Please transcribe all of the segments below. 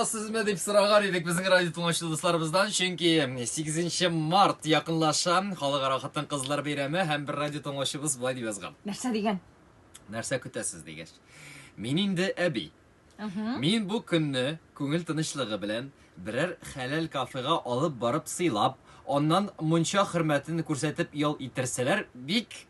сезме дип сораган идек безнең радио тыңлаучы дусларыбыздан, чөнки 8 март якынлаша, халыкара хатын-кызлар бәйрәме һәм бер радио тыңлаучыбыз болай дип язган. Нәрсә дигән? Нәрсә көтәсез дигәч. Мин инде әби. Мин бу көнне күңел тынычлыгы белән берәр хәләл кафега алып барып сыйлап, аннан мунча хөрмәтен күрсәтеп ял иттерсәләр, бик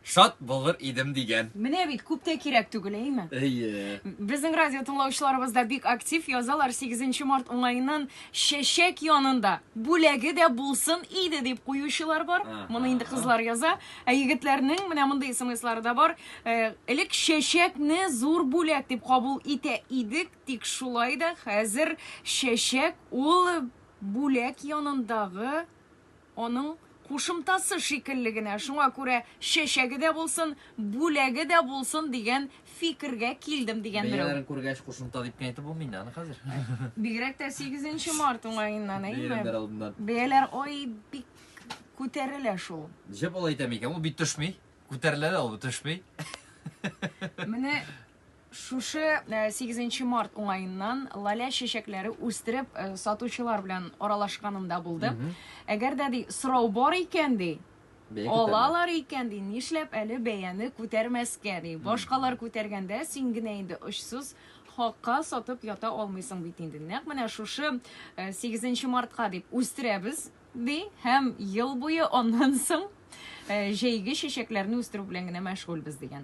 Шат булыр идем дигән. Менә бит күп тә кирәк түгел, әйме? Әйе. Безнең радио тыңлаучыларыбыз да бик актив язалар 8 март уңаеннан чәчәк янында бүләге дә булсын иде дип куючылар бар. Ага. Моны инде кызлар яза, ә егетләрнең менә мондый смслары да бар. Э, Элек чәчәкне зур бүләк дип кабул итә идек, тик шулай да хәзер чәчәк ул бүләк янындагы Аның кушымтасы шикелле генә, шуңа күрә чәчәге дә булсын, бүләге дә булсын дигән фикергә килдем, дигән берәү. Бәяләрен күргәч, кушымта дип кенә әйтеп булмый инде аны хәзер. Бигрәк тә сигезенче март уңаеннан, әйеме? Бәйрәмнәр алдыннан. Бәяләр, ай, бик күтәрелә шул. Җеп алай итәме икән? Ул бит төшми. Күтәрелә дә ул, төшми. Менә Шушы 8 э, март уңаеннан лаля чәчәкләре үстереп э, сатучылар белән аралашканында булды. Әгәр дә ди сорау бар икән ди, Алалар икән ди, нишләп әле бәяне күтәрмәскә ди. Башкалар күтәргәндә син генә инде очсыз хакка сатып ята алмыйсың бит инде. Нәкъ менә шушы 8 э, мартка дип үстерәбез ди һәм ел буе аннан соң э, җәйге чәчәкләрне үстерү белән генә мәшгульбез дигән.